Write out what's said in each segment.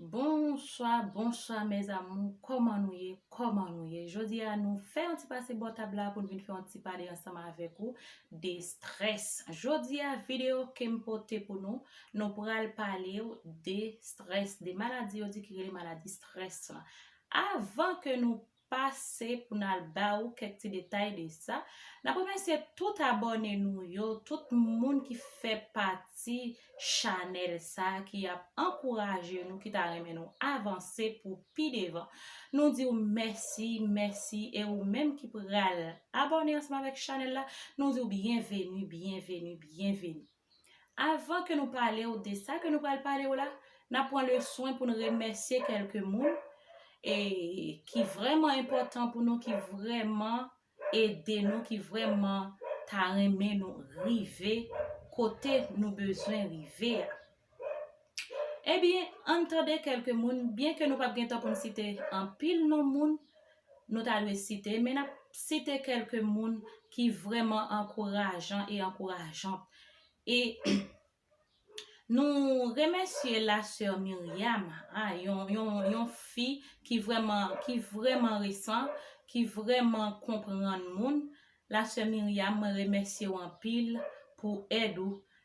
Bonswa, bonswa mes amour, kòman nou ye, kòman nou ye? Jodi a nou fè yon ti pase bò tab la pou nou vin fè yon ti pale ansanm avèk ou de strès. Jodi a video ke m pote pou nou, nou pral pale ou de strès, de maladi yo di ki rele maladi strès la. Avan ke nou pase pou n al ba ou kèk ti detay de sa. N ap remèsye tout abòne nou yo, tout moun ki fè pati chanèl sa ki ap ankouraje nou, ki ta renmen nou avanse pou pi devan. Nou di ou mèsi, mèsi e ou menm ki pral abòne ansanm avèk chanèl la, nou di ou byenveni, byenveni, byenveni. Avan ke nou pale ou de sa ke nou pral pale ou la, nap pran le swen pou nou remèsye kelke moun e ki vreman enpotan pou nou, ki vreman ede nou, ki vreman ta renmen nou rive kote nou bezwen rive a. Ebyen, ann tande kèlke moun, byenke nou pap gen tan pou n site anpil non moun nou ta dwe site, men n ap site kèlke moun ki vrèman ankourajan e ankourajan. E nou remèsye la sè Myriam, a yon fi ki vrèman resan, ki vrèman konprann moun, la sè Myriam mwen remèsye w anpil pou èd ou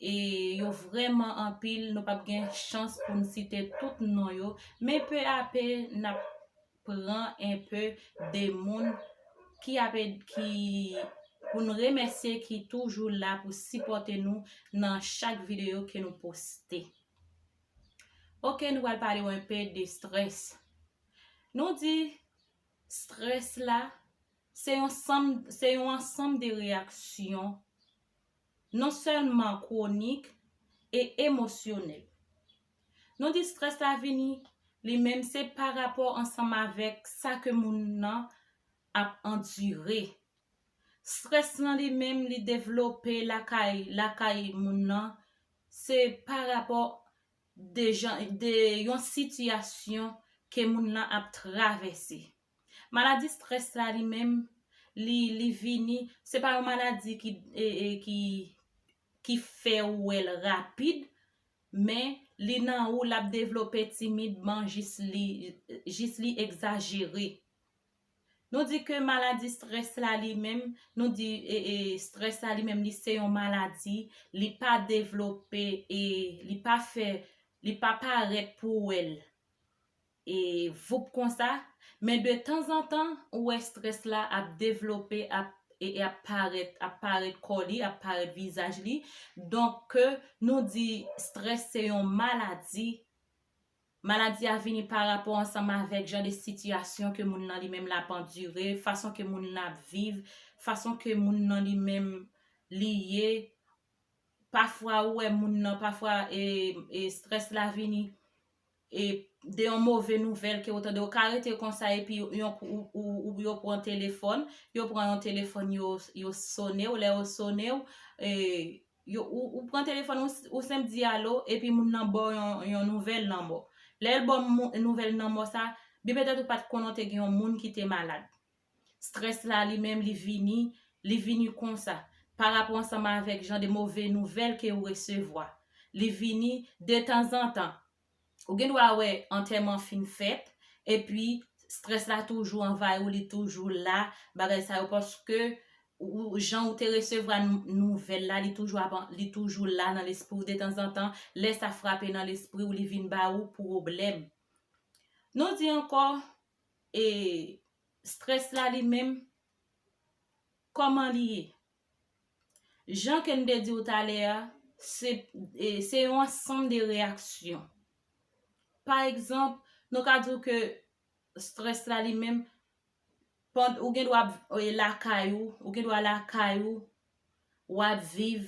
e yo vrèman anpil nou pap gen chans pou n site tout non yo men pe a pe n ap pran enpe de moun ki ap ede ki pou n remèsye ki toujou la pou sipòte nou nan chak videyo ke nou poste ok nou pral pale w enpe de strès nou di strès la se yon sanm se yon ansanm de reyaksyon non sèlman kwonik e emosyonèl. Nou di strès la vini li menm se pa rapò ansanm avèk sa ke moun nan ap andire. Strès lan li menm li devlope lakay lakay moun nan se pa rapò de jan de yon sitiyasyon ke moun lan ap travèse. Maladi stress la li menm li li vini se pa yon maladi ki ki ki fè ou wèl rapid men li nan ou lap devlope timidman jis li jis li egzajere nou di ke maladi stress la li menm nou di stress la li menm li se yon maladi li pa devlope e li pa fè li pa parèt pou wèl E voup konsa, men de tanzantan ou wè strès la ap devlope ap e ap parèt, ap parèt kò li, ap parèt vizaj li, donk ke nou di strès se yon maladi, maladi a vini pa rapò ansanm avèk jan de sitiyasyon ke moun nan li menm lap andire, fason ke moun nan ap viv, fason ke moun nan li menm li ye, pafwa ou wè moun nan pafwa e strès la vini. e de yon move nouvèl ke ou tande ou ka rete konsa epi yon kou yo pran telefòn yo pran yon telefòn yo sone ou lè yo sone ou e ou pran telefòn ou senp di alo epi moun nan baw yon nouvèl lanmò lèl baw nouvèl lanmò sa byen petèt ou pat konnen te gen yon moun ki te malad Stress la li menm li vini, li vini konsa, pa rapò ansanm avèk jan de move nouvèl ke ou resevwa. Li vini detanzantan. Ou gen dwa wè antèman fin fèt, epi stress la toujou anvayi ou, li toujou la, bagay sa yo, paske ou jan ou te resevwa nouvèl la, li toujou ap, li toujou la nan lespri ou detanzantan, lè sa frape nan lespri ou li vin ba ou pwoblèm. Nou di ankò, e stress la li menm koman li ye jan ke m te di w talè a se yon ansanm de reyaksyon pa egzanp nou ka di w ke stress la li menm ou gen dwa lakay ou ou gen dwa lakay ou wap viv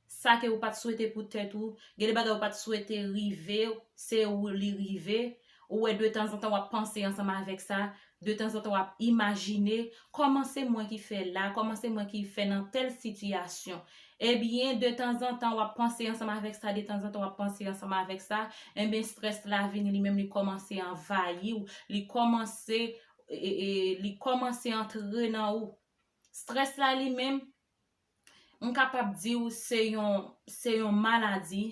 sa ke ou pat swete pou tèt ou, gen de bagay ou pat swete rive w, se ou li rive, ou wè de tanzantan wap panse ansanm avèk sa, de tanzantan wap imajine, kòman se mwen ki fè la, kòman se mwen ki fè nan tèl sitiyasyon, ebyen de tanzantan wap panse ansanm avèk sa, de tanzantan wap panse ansanm avèk sa, enben strès la vini li menm li kòmanse anvayi w, li kòmanse, li kòmanse antre nan ou. Stress la li menm, m kapab di w se yon, se yon maladi,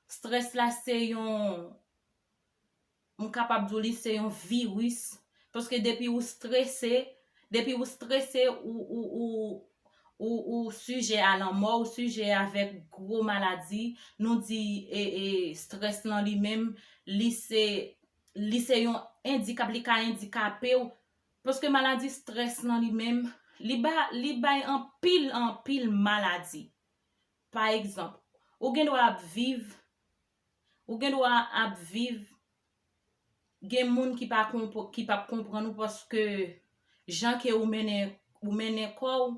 stress la se yon, m kapab di w li se yon virus, paske depi ou stresse, depi ou stresse ou, ou, ou, ou, ou sijè a lanmò, ou sijè avèk gwo maladi, nou di e, e, stress lan li menm, li se, li se yon endikap, li ka endikape w, Paske maladi stress lan li menm, li ba, li bay anpil, anpil maladi. Pa egzanp, ou gen dwa ap viv, ou gen dwa ap viv, gen moun ki pa konpran, ki pap konprann ou paske jan ke ou mennen, ou mennen kò ou,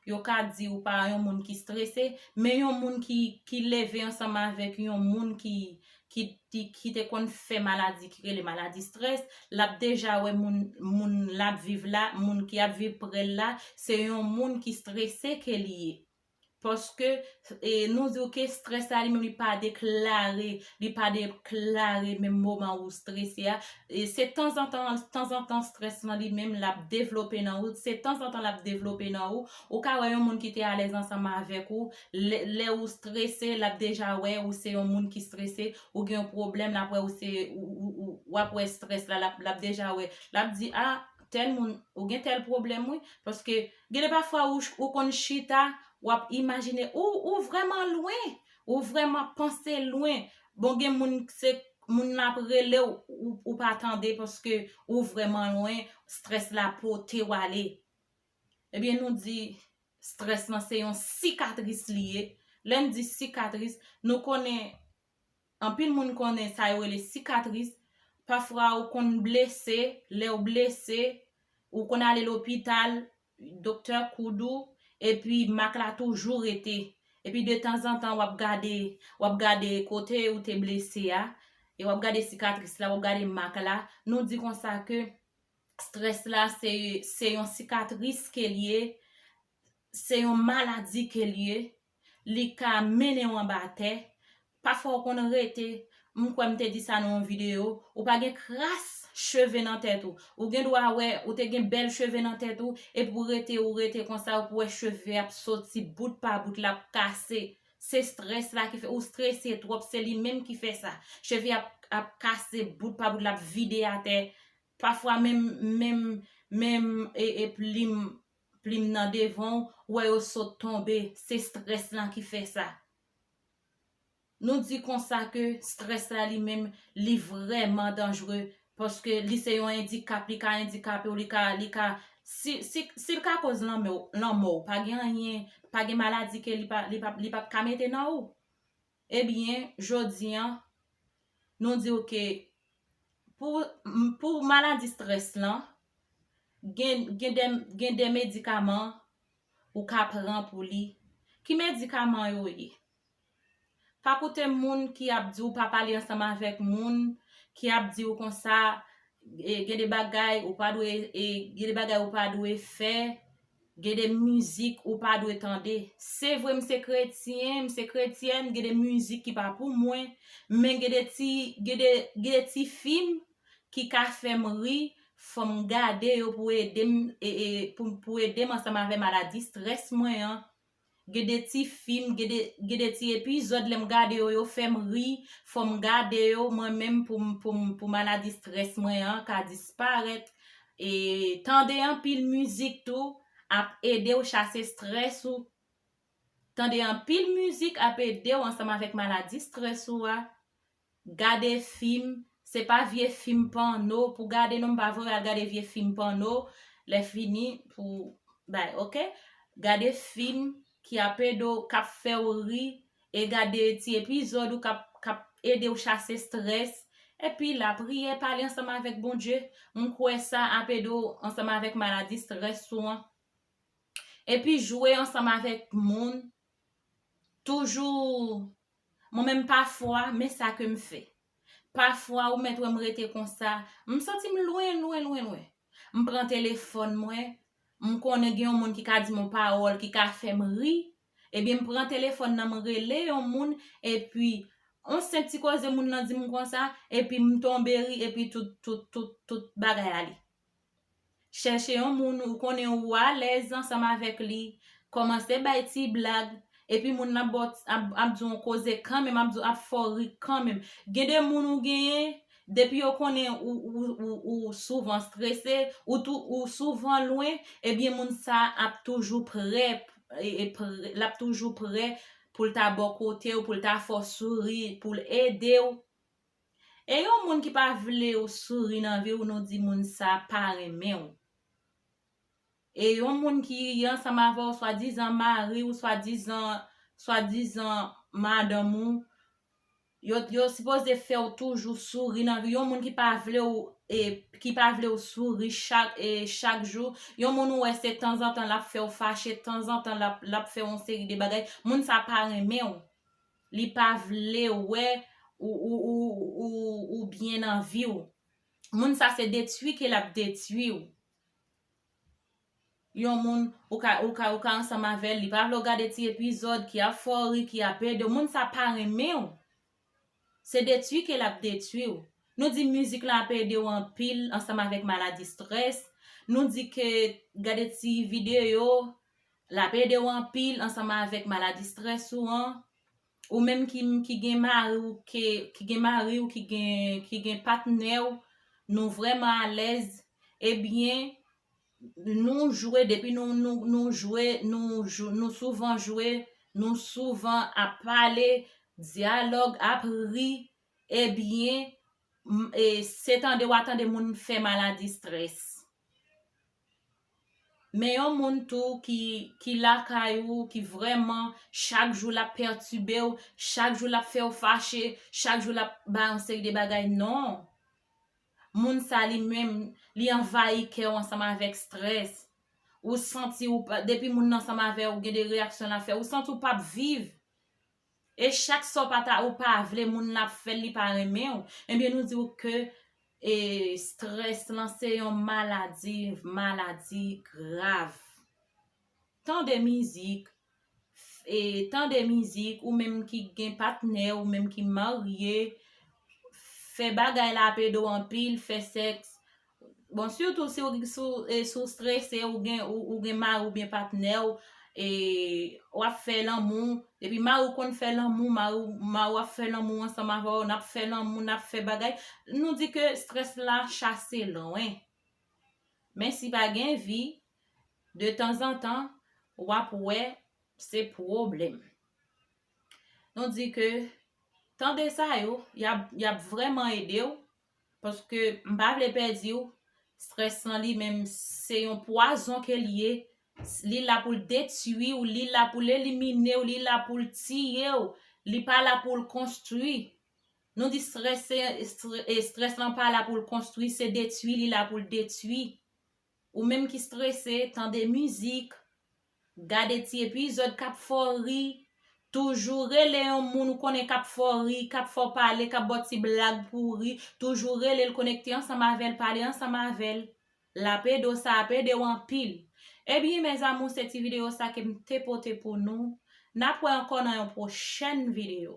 Yo ka di ou pa yon moun ki strese, men yon moun ki leve ansanm avèk yon moun ki te konn fè maladi ki rele maladi strès, l ap deja wè moun l ap viv la, moun ki ap viv pre l la, se yon moun ki strese ke li ye. Paske Nou di w ke strès la li menm li pa deklare, li pa deklare menm moman ou strese a. Se tanzantan, tanzantan strès lan li menm l ap devlope nan ou. Se tanzantan l ap devlope nan ou. Ou ka wè yon moun ki te alèz ansanm avèk ou, lè ou strese, l ap deja wè ou se yon moun ki strese. Ou gen yon pwoblèm, l ap wè ou se, w ap wè strès la, l ap deja wè. L ap di, a, tèl moun, ou gen tèl pwoblèm wi. Paske. Gen de pafwa ou konn chita, w ap imajine, ou vrèman lwen, ou vrèman panse lwen, bon gen moun se moun nan ap rele w, ou pa tande paske ou vrèman lwen, strès la pote w ale. Ebyen nou di, strès lan se yon sikatris li ye, lè n di sikatris, nou konnen. Anpil moun konnen sa yo rele sikatris, pafwa ou konn blese, lèw blese, ou konn ale lopital, doktè koud ou, epi mak la toujou rete. Epi de tanzantan wap gade, wap gade kote ou te blese a, e wap gade sikatris la, wap gade mak la, nou di konsa ke strès la se yon sikatris kel ye, se yon maladi kel ye, Li ka mennen w anba tè, pafwa w konn rete, m kwè m te di sa nan yon videyo, ou pa gen kras cheve nan tèt ou. Ou gen dwa wè, ou te gen bèl cheve nan tèt ou, epi w rete, ou rete konsa, ou pou wè cheve ap soti bout pa bout, l ap kase. Se strès la ki fè, ou strese twòp, se li menm ki fè sa. Cheve a ap kase bout pa bout, l ap vide atè. Pafwa menm, menm, menm e, e plim Plim nan devan w wè yo sot tonbe se strès lan ki fè sa. Nou di konsa ke strès la li menm li vrèman danjre paske li se yon endikap li ka endikape w li ka li ka si si si l ka koz lanmè w lanmò w pa gen anyen pa gen maladi ke li pa li pa li pap ka mete nan ou. Ebyen jodi an nou diw ke pou pou maladi strès lan gen gen de gen de medikaman ou ka pran pou li ki medikaman yo ye pa koute moun ki ap diw pa pale ansanm avèk moun ki ap diw konsa gen de bagay ou pa dwe e gen de bagay ou pa dwe fè. Gen de mizik ou pa dwe tande. Se vre m se kretyen, m se kretyèn, gen de mizik ki pa pou mwen, men gen de ti gen de gen de ti fim ki ka fè m ri, fò m gade yo pou ede m e e pou pou ede m ansanm avè maladi strès mwen an. Gen de ti fim, gen de, gen de ti epizòd lè m gade yo yo fè m ri, fò m gade yo mwen menm pou m, pou m, pou maladi strès mwen an ka disparèt. E tande anpil mizik tou ap ede w chase strès ou. Tande anpil mizik ap ede w ansanm avèk maladi strès ou a. Gade fim, se pa vye fim pòno pou gade non pa vre al gade vye fim pòno lè fini pou bay ok gade fim ki ap edo kap fèw ri e gade ti epizòd ou kap kap edew chase strès epi la priye pale ansanm avèk Bondye m kwè sa ap ede w ansanm avèk maladi strès ou an epi jwe ansanm avèk moun toujou Mwen menm pafwa, men sa ke m fè. Pafwa ou mèt wè m rete konsa, m santi m lwen, lwen, lwen, lwen. M pran telefòn mwen, m konnen gen yon moun ki ka di m yon pawòl ki ka fè m ri, ebyen m pran telefòn nan m rele yon moun, epi yon senp ti koze moun nan di m konsa, epi m tonbe ri, epi tout, tout, tout, tout bagay ale. Chèche yon moun ou konnen ou alèz ansanm avèk li, kòmanse bay ti blag, epi moun nan ap ba w ap di w yon koze kanmenm, ap di w ap fè w ri kanmenm. Gen de moun ou genyen, depi yo konnen ou souvan strese, ou tou ou souvan lwen, ebyen moun sa a ap toujou prè, l ap toujou prè pou l ta bò kote w, pou l ta fè w souri, pou l ede w. E yon moun ki pa vlew souri nan viw nou di moun sa pa renmenw. E yon moun ki ansanm avèw swadizan mariw swadizan swadizan madanm ou yo yo sipoze fèw toujou souri nan viw yon moun ki pa vlew e ki pa vlew souri chak e chak jou yon moun ou wè se tanzantan lap fèw fache tanzantan lap lap fè yon seri de bagay moun sa pa renmenw. li pa vle wè ou byen nan vi w moun sa se detwi ke lap detwi w yon moun ou ka ansanm avèl li pa vle w gade ti epizòd ki ap fè w ri ki ap ede w moun sa pa renmen w se detwi ke lap detwi w nou di mizik lan ap ede w anpil ansanm avèk maladi strès nou di ke gade ti videyo Lap ede w anpil ansanm avèk maladi strès ou an, ou menm ki ki gen mari w ke ki gen mari w ki gen ki gen patnè w nou vrèman alèz ebyen nou jwe depi nou nou nou jwe nou jou nou souvan jwe nou souvan ap pale dyalòg ap ri ebyen m e se tande wa tande moun fè maladi strès. Men yon moun tou ki ki lakay ou ki vrèman chak jou lap pètibe ou, chak jou lap fè ou fache, chak jou lap bay yon seri de bagay non. Moun sa li menm li anvayi kè ou ansanm avèk strès. Ou santi ou pa depi moun nan ansanm avè ou gen de reyaksyon lap fè ou santi ou pap viv. E chak sa w pa ta ou pa vle moun nan ap fè l li pa renmen w ebyen nou di w ke e strès lan se yon maladi maladi grav tande mizik e tande mizik ou menm ki gen patnè ou menm ki marye fè bagay la ap ede w anpil fè sèks Bon sitou si ou strese ou gen mari oubyen patnè ou wap fè lanmou epi mari ou konn fè lanmou mari ou ap fè lanmou ansanm avè w nap fè lanmou nap fè bagay nou di ke strès la chase lwen men si pa gen vi de tanzantan wap wè se pwoblèm nou di ke tande sa yo yap vrèman ede w Paske m pa vle pèdi w. Stress lan li menm se yon pwazon ke l ye. Li la pou l detui w, li la pou l elimine w, li la pou l tiye w. Li pa la pou l konstwi. Nou di stress se, stress lan pa la pou l konstwi, se detui li la pou l detui. Ou menm ki strese, tande mizik, gade ti epizòd k ap fè w ri, toujou rele yon moun ou konnen k ap fè w ri, k ap fè w pale, k ap ba w ti blag pou w ri, toujou rele l, konekte ansanm avè l, pale ansanm avè l. L ap ede w, sa ap ede w anpil. Ebyen mes amours se ti videyo sa ke m te pote pou nou. N ap wè ankò nan yon pwochèn videyo.